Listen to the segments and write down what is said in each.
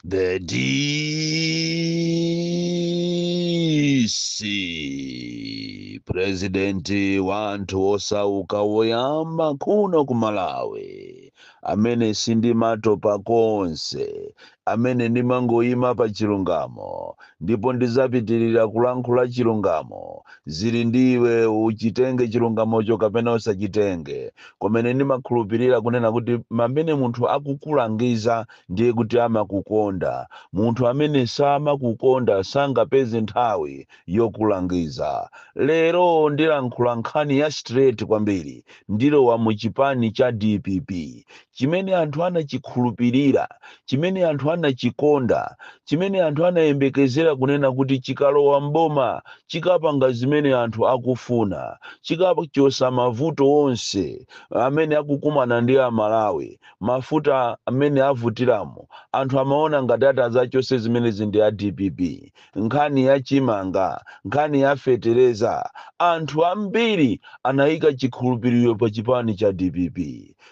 The DC purezidenti wa anthu osauka woyamba kuno ku Malawi amene sindimatopa konse amene ndimangoyima pa chilungamo ndipo ndizapitirira kulankhula chilungamo zili ndi iwe uchitenge chilungamocho kapena usachitenge komano ndimakhulupirira kunena kuti pamene munthu akukulangiza ndiye kuti amakukonda. Munthu amene samakukonda sangapeze nthawi yokulangiza. Lero ndilankhula nkhani ya straight kwambiri. Ndilowa mu chipani cha dpp. Chimene anthu anachikhulupirira, chimene anthu anachikonda, chimene anthu anayembekezera kunena kuti chikalowa m'boma chikapanga zimene anthu akufuna, chikachotsa mavuto onse amene akukumana ndi Amalawi, mafuta mmene avutiramo anthu amaona ngati atazachose zimenezi ndi a dpp nkhani ya chimanga nkhani ya fetereza anthu ambiri anayika chikhulupiriro pa chipani cha dpp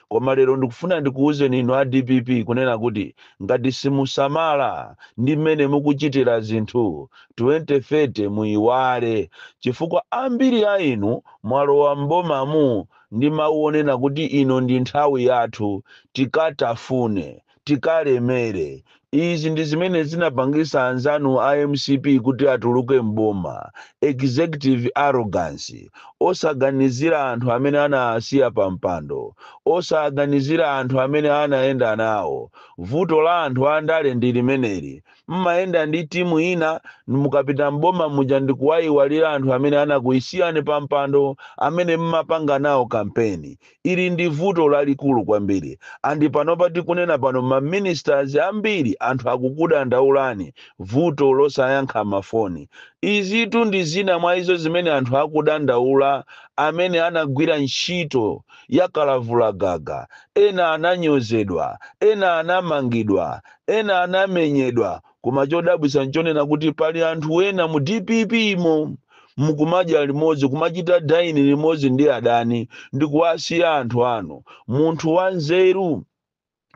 koma lero ndikufuna ndikuwuzeni inu a dpp kunena kuti ngati simusamala ndi mmene mukuchitira zinthu 2030 muyiwale chifukwa ambiri a inu mwalowa m'bomamu Ndi mawu onena kuti ino ndi nthawi yathu, tikatafune, tikalemere. Izi ndi zimene zinapangisa anzanu a mcp kuti atuluke m'boma, executive arrogance, osaganizira anthu amene anawasiya pa mpando, osaganizira anthu amene anayenda nawo. Vuto la anthu a ndale ndi limeneli. mmayenda ndi timu ina mukapita m'boma muja ndikuwayiwalira anthu amene anakuyisiyani pa mpando amene mmapanga nawo kampeni ili ndi vuto lalikulu kwambiri and panopa tikunena pano ma ministers ambiri anthu akukudandaulani vuto losayankha mafoni izitu ndi zina mwa izo zimene anthu akudandaula amene anagwira ntchito ya kalavulagaga ena ananyozedwa ena anamangidwa Ena anamenyedwa koma chodabwisa nchonena kuti pali anthu ena mu dpp mo mukumadya limodzi kumachita dine limodzi ndi adani ndikuwasiya anthu anu. Munthu wanzeru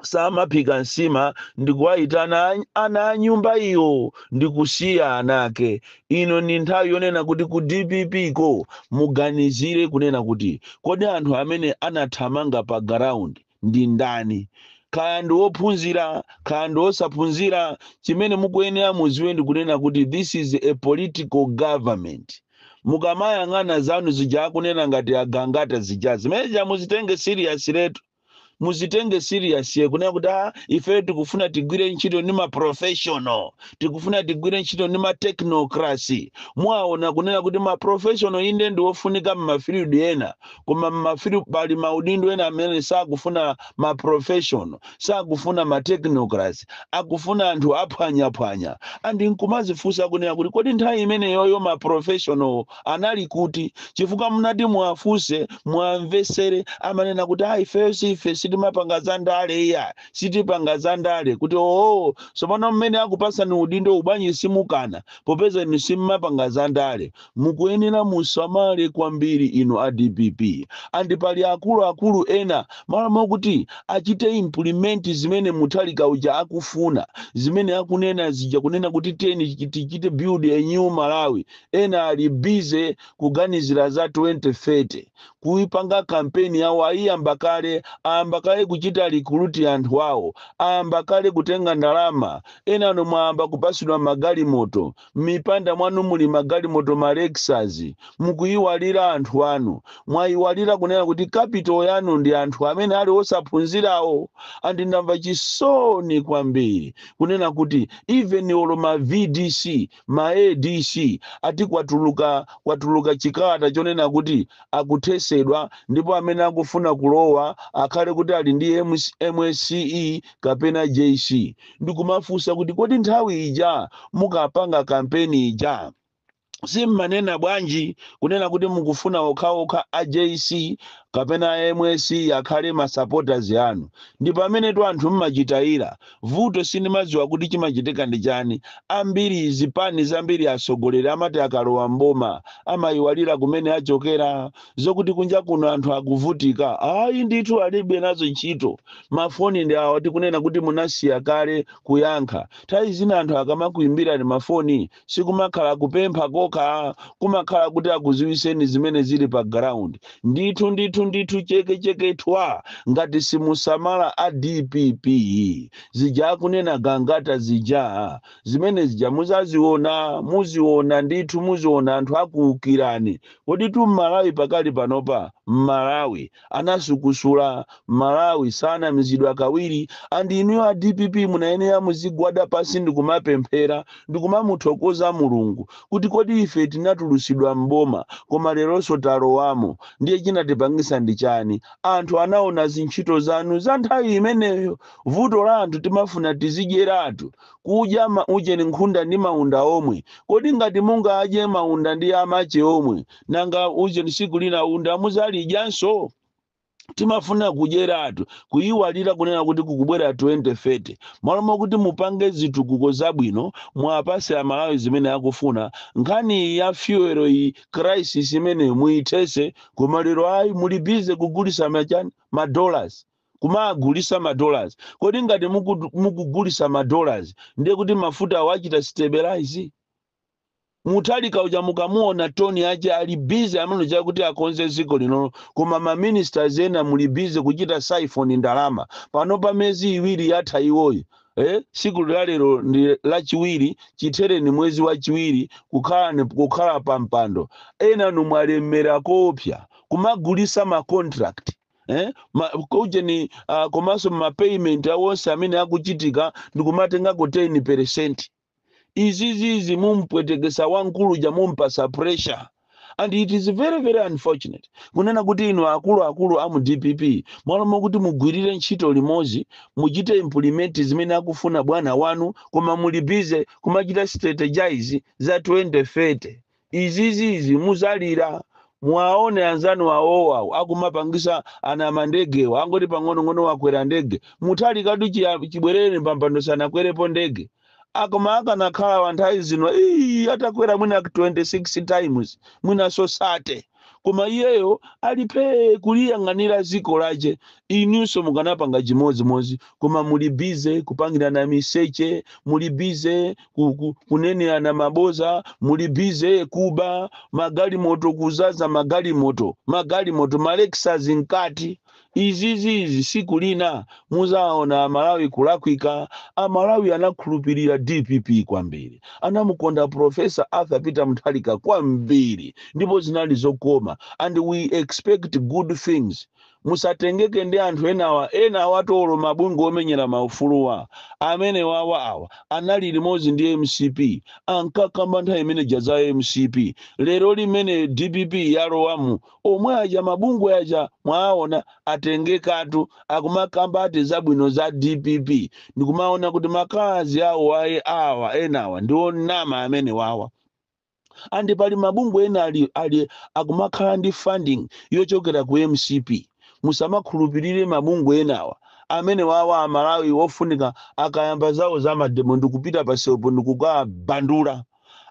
samaphika nsima ndikuwaitana ana a nyumba iyo ndikusiya anake. Ino ndi nthawi yonena kuti ku dpp ko muganizire kunena kuti kodi anthu amene anathamanga pa garaundi. ndi ndani kaya ndi wophunzira kaya ndi wosaphunzira chimene mukuyenera muziwe ndi kunena kuti this is a political government mukamayang'ana zanu zija akunena ngati agangata zija zimene zija muzitenge serious letu muzitenge serious kunena kuti ah, ife tikufuna tigwire ntchito ndi maprofessional tikufuna tigwire ntchito ndi matechnocracy mwaona kunena kuti maprofessional inde ndi wofunika m'mafield ena koma mmafiri pali maudindo ena amene sakufuna ma professional sakufuna ma technocracy akufuna anthu aphwanyaphwanya and nkumazifunsa kunena kuti kodi nthawi imeneyoyo ma professional anali kuti chifukwa munati muwafunse muwamvesere amanena kuti ayi ifeyo si ife sitimapanga za ndale iya sitipanga za ndale kuti oo tsopano mmene akupasani udindo bwanji simukana popeza inu simumapanga za ndale Mukuyenera musamale kwambiri inu a dpp and pali akulu akulu ena malo mokuti achite implement zimene Mutharika uja akufuna zimene akunena zija kunena kuti tiyeni tichite build a new Malawi ena ali busy kuganizira za 2030 kuipanga campaign yawo ayiyamba kale ayamba kale kuchita recruit anthu awo ayamba kale kutenga ndalama ena inu mwayamba kupasidwa magalimoto M'mipanda mwanu muli magalimoto ma Lexus, mukuiwala anthu anu. Mwaiwala kunena kuti capital yanu ndi anthu amene ali osaphunzirawo? And ndamva chisoni kwambiri kunena kuti even olo ma VDC, ma ADC ati kwatuluka kwatuluka chikalata chonena kuti akuthesedwa ndipo amene akufuna kulowa akhale kuti ali ndi MSCE kapena JC. ndikumafunsa kuti kodi nthawi ija mukapanga kampeni ija simmanena bwanji kunena kuti mukufuna okhaokha a jc kapena a MSCE akhale masupporters anu ndi pamenetu anthu mmachitayira vuto sindimadziwa kuti chimachitika ndi chani ambiri zipani zambiri atsogoleri amati akalowa mboma amayiwalira kumene achokera zokuti kunja kuno anthu akuvutika ayi ndithu alibe nazo ntchito mafoni ndi awa tikunena kuti munasiya kale kuyankha nthawi zina anthu akamakuimbirani mafoni sikumakhala kupempha kokha kumakhala kuti akuziwiseni zimene zili pa ground ndithu ndithu ndithu chekecheke thwa ngati simusamala a dpp zija akunena gangata zija zimene zija muzaziona muziona ndithu muziona anthu akuukirani Koditu mmalawi pakali panopa mmalawi anasukusula mmalawi sanamizidwa kawiri and inuyo a dpp munayenera muzigwada pasi ndikumapemphera ndikumamuthokoza mulungu kuti kodi ife tinatulusidwa m'boma koma leronso talowamo ndiye chinatipangisa ndi chani anthu anaona zintchito zanu za nthawi imeneyo vuto la anthu timafuna tizidyeratu kudya ma ujeni nkhunda ndi maunda omwe kodi ngati mungadye maunda ndi amache omwe nanga ujeni siku lina unda muzalidyanso timafuna kudyeratu kuyiwalira kunena kuti kukubwera 2030 malo mokuti mupange zitukuko zabwino muwapase amalawi zimene akufuna nkhani ya fuel iyi crisis imeneyo muyithese koma lero ayi muli bize kugulisa machani ma dollars kumagulisa ma dollars kodi ngati muku- mukugulisa ma dollars ndiye kuti mafuta awo achita stabilize mutharika uja mukamuona toni ache ali bize amene chakuti akonze dziko linolo koma maministers ena muli bize kuchita siphon ndalama pano pa miyezi iwiri yatha iwoyi eh, siku la lero ndi lachiwiri chithere ndi mwezi wachiwiri kukhala ni- kukhala pa mpando enanu mwalemera koopsa kumagulisa ma contract eh? Ma, kujeni uh, komanso ma payment awonse amene akuchitika ndikumatengako 10 percent izizizi mumpwetekesa wamkulu uja mumpasa pressure and it is very very unfortunate kunena kuti inu akuluakulu a mu dpp malo mokuti mugwirire ntchito limodzi muchite implement zimene akufuna bwana wanu koma muli bize kumachita strategize za 2030 Izizi izi muzalira muwaone anzanu awowo awo akumapangisa anamandegewa angoti pang'onong'ono wakwera ndege mutharikatu chiya, chibwerereni pampando sanakwerepo ndege akoma akanakhala wanthawi zino ii atakwera mwina 26 times mwinanso 30. koma iyeyo ali phee kuliyang'anira ziko lache inunso mukanapanga chimodzimodzi koma muli bize kupangirana miseche muli bize ku, ku, kunenerana maboza muli bize kuba magalimoto kuzaza magalimoto magalimoto ma lexus mkati izizizi siku lina muzaona amalawi kulakwika amalawi anakhulupirira dpp kwambiri anamukonda profesa arthur peter mutharika kwambiri ndipo zinali zokoma and we expect good things musatengeke ndi anthu enawa enawa atolo mabungwe omenyera maufuluwa amenewawa awa anali limodzi ndi mcp ankakamba nthawi imene ija za mcp lero limene dpp yalowamu Omwe aja mabungwe aja mwaawona atengekatu akumakambati zabwino za dpp ndikumaona kuti ma colors awo aye awa enawa ndi onama amenewawa and pali mabungwe ena ali, ali akumakhala ndi funding yochokera ku mcp musamakhulupirire mabungwe enawa amene wawa amalawi ofunika akayamba zawo za mademo ndikupita pamsewupo ndikukabandula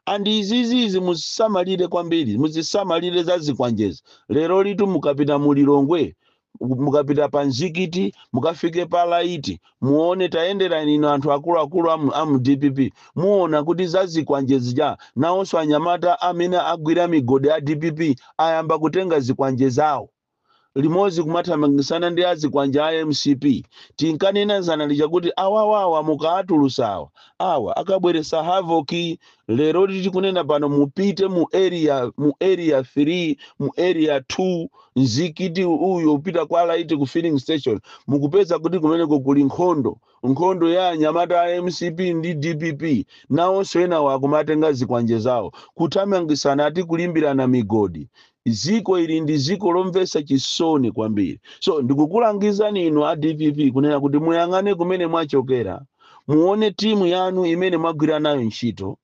and izizizi muzisamalire kwambiri muzisamalire za zikwanjezi lerolitu mukapita mu lilongwe mukapita pa mzikiti mukafike pa laiti muone tayendera ine na anthu akuluakulu amu, amu dpp muona kuti za zikwanje zija nawonso anyamata amene agwira migodi a dpp ayamba kutenga zikwanje zawo limodzi kumathamangisana ndi azikwanje a mcp tinkanena zana lija kuti awawawa mukaatulusa awa awa akabweresa havoki leroli tikunena pano mupite mu area mu area 3 mu area 2 mzikiti uyo upita kwa laiti ku filling station mukupeza kuti kumeneko kuli nkhondo nkhondo ya anyamata a mcp ndi dpp nawonso enawo akumatenga zikwanje zawo kuthamangisana ati kulimbirana migodi ziko ili ndi ziko lomvesa chisoni kwambiri so ndikukulangizani inu a dpp kunena kuti muyang'ane kumene mwachokera muone timu yanu imene mwagwira nayo ntchito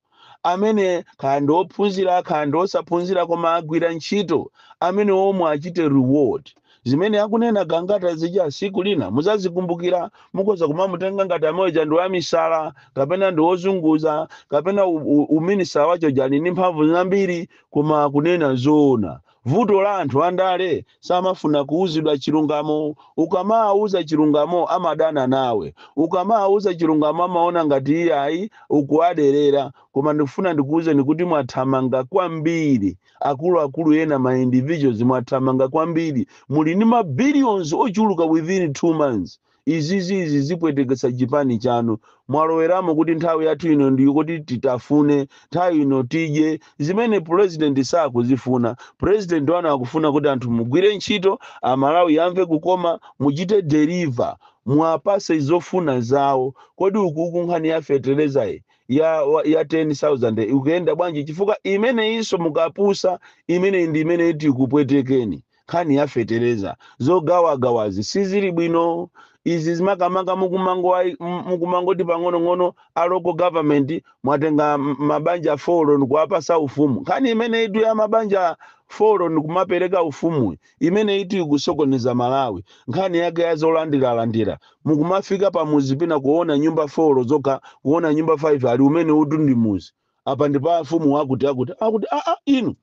amene kaya ndi ophunzira kaya ndi osaphunzira koma agwira ntchito amene omwewo achite reward zimene akunena gangata zija siku lina muzazikumbukira mukoza kumamutenga ngati amwene aja ndi wamisala kapena ndi wozunguza kapena u- u- uminister wachoja ali ndi mphamvu zambiri koma akunena zoona Vuto la anthu andale samafuna kuuzidwa chilungamo ukamawauza chilungamo amadana nawe ukamawauza chilungamo amaona ngati iyayi ukuwaderera koma ndikufuna ndikuuzeni kuti mwathamanga kwambiri akuluakulu ena ma individuals mwathamanga kwambiri muli ndi ma billions ochuluka within 2 months izizi izi zipwetekesa chipani chanu mwaloweramo kuti nthawi yathu ino ndiyo kuti titafune nthawi ino tidye zimene president sakuzifuna president wanu akufuna kuti anthu mugwire ntchito a Malawi yamve kukoma muchite deliver muwapase zofuna zawo kodi ukuku nkhani ya fertilizer ya, wa- ya 10000 ikuyenda bwanji chifukwa imeneyinso mukapusa imeneyi ndi imene iti ikupwetekeni nkhani ya fetereza zogawagawazi sizili bwino izizi makamaka mukumango- m- mukumangoti pang'onong'ono a local government mwatenga m- mabanja folo ndikuwapasa ufumu nkhani imeneyitu ya mabanja folo ndikumapereka ufumu imeneyitu ikusokoneza malawi nkhani yake ya zolandiralandira mukumafika pamuzi pina kuona nyumba folo zokha kuona nyumba 5 ali umenewutu ndi muzi apa ndi pa mfumu wakuti wakuti wakuti aa inu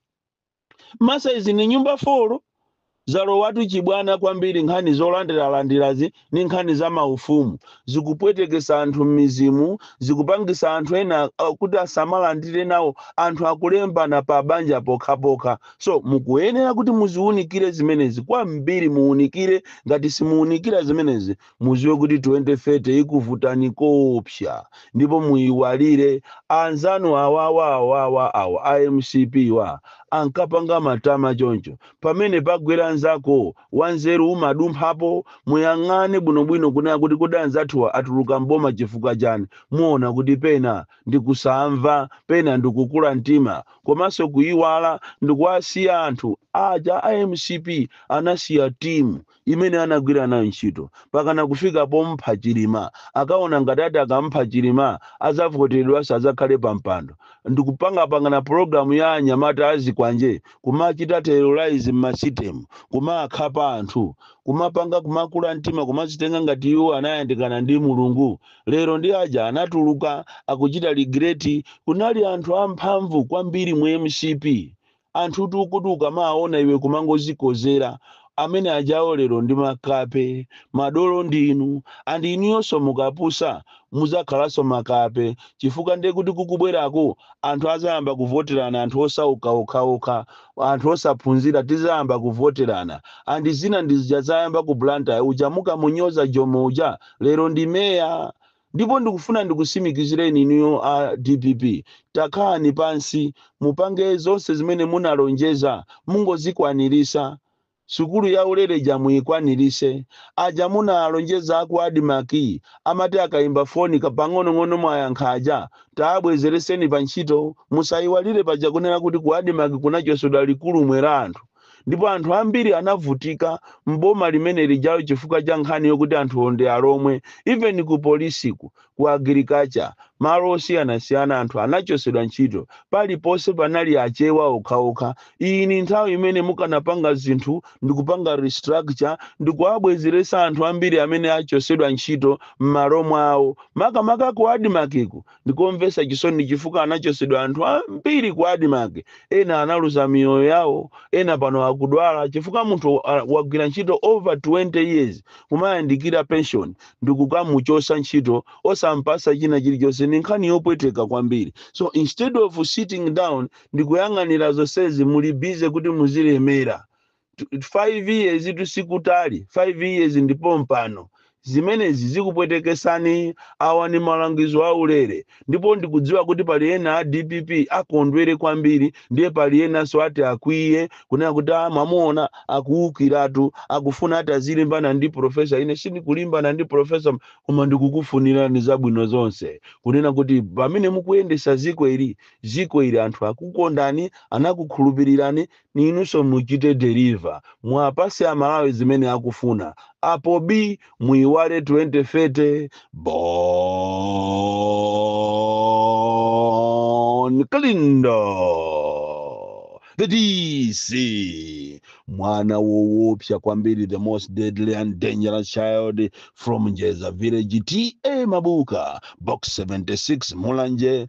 masaizi ni nyumba folo zalowatu chibwana kwambiri nkhani zolandiralandirazi ni nkhani za maufumu zikupwetekesa anthu m'mizimu zikupangisa anthu ena uh, kuti asamalandire nawo anthu akulembana pa banja pokhapokha so mukuyenera kuti muziwunikire zimenezi kwambiri muwunikire ngati simuwunikira zimenezi muziwe kuti 2030 ikuvutani koopsa ndipo muiwalire anzanu awawa awawa awa a mcpwa ankapanga matama choncho pamene pagwera nzako wanzeru umadumphapo muyang'ane bwinobwino kunena kuti kodi anzathuwa atuluka m'boma chifukwa chani muona kuti pena ndikusamva pena ndikukula mtima komanso kuiwala ndikuwasiya anthu aja a mcp anasiya timu imene anagwira nayo ntchito pakana kufika pompha chilima akaona ngati atakamupha chilima azavoteredwanso azakhale pampando ndikupangapangana program ya anyamata azikwanje kumachita terrorize mmasitemu kumakhapa anthu kumapanga kumakula mtima kumazitenga ngati iwo anayandikana ndi mulungu lero ndi aja anatuluka akuchita regret kunali anthu amphamvu kwambiri mu mcp Anthutu okuti ukamawaona iwe kumangozikozera, amene ajawo lero ndi makape, madolo ndi inu and inuyonso mukapusa mudzakhalanso makape chifukwa ndiye kuti kukubweraku anthu adzayamba kuvoterana anthu osauka okhaokha, anthu osaphunzira tidzayamba kuvoterana and zinazi ndi zija zayamba ku Blantyre, uja mukamunyoza Jomo uja lero ndi mayor. Ndipo ndikufuna ndikusimikizireni inuyo a dpp takhalani pansi mupange zonse zimene munalonjeza mungozikwanirisa. Sukulu ya ulere ija muikwanilise. Aja munaalonjeza a ku Admarc amati akaimba foni kapang'onong'ono mwayankha aja taabwezereseni pa ntchito. Musaiwalire paja kunena kuti ku Admarc kunachosedwa chikulumwe cha anthu. ndipo anthu ambiri anavutika m'boma limene lijawo chifukwa cha nkhani yokuti anthuwo ndi alomwe even ku polisiku ku agriculture malo osiyanasiyana anthu anachosedwa ntchito paliponse panali achewa okhaokha iyi ni nthawi imene mukanapanga zinthu ndikupanga restructure ndikuwabwezeresa anthu ambiri amene achosedwa ntchito m'malo mwawo makamaka ku admarkiku Ndikomvesa chisoni chifukwa anachosedwa anthu ambiri ku admarc ena analuza miyoyo yawo ena pano akudwala chifukwa munthu wagwira ntchito over 20 years kumayandikira pension ndikukamuchosa ntchito osampasa china chilichonse ndi nkhani yopweteka kwambiri so instead of sitting down ndikuyang'anira zonsezi muli busy kuti muzilemera 5 years tu sikutali 5 years ndipo pompano zimenezi zikupwetekesani awa ni malangizo aulere ndipo ndikudziwa kuti pali ena a dpp akondwere kwambiri ndiye pali enanso ati akwiye kunena kuti "Ah, mwamuona akuwukiratu akufuna ati azilimbana ndi profesa ine sindikulimbana ndi profesa koma ndikukufunirani zabwino zonse kunena kuti pamene mukuyendesa ziko ili ziko ili anthu akukondani anakukhulupirirani ninunso muchite deliver muwapatse amalawi zimene akufuna apo bii muiwale 2030 Bon Kalindo the DC mwana wowopsa kwambiri the most deadly and dangerous child from Njeza village TA Mabuka box 76 Mulanje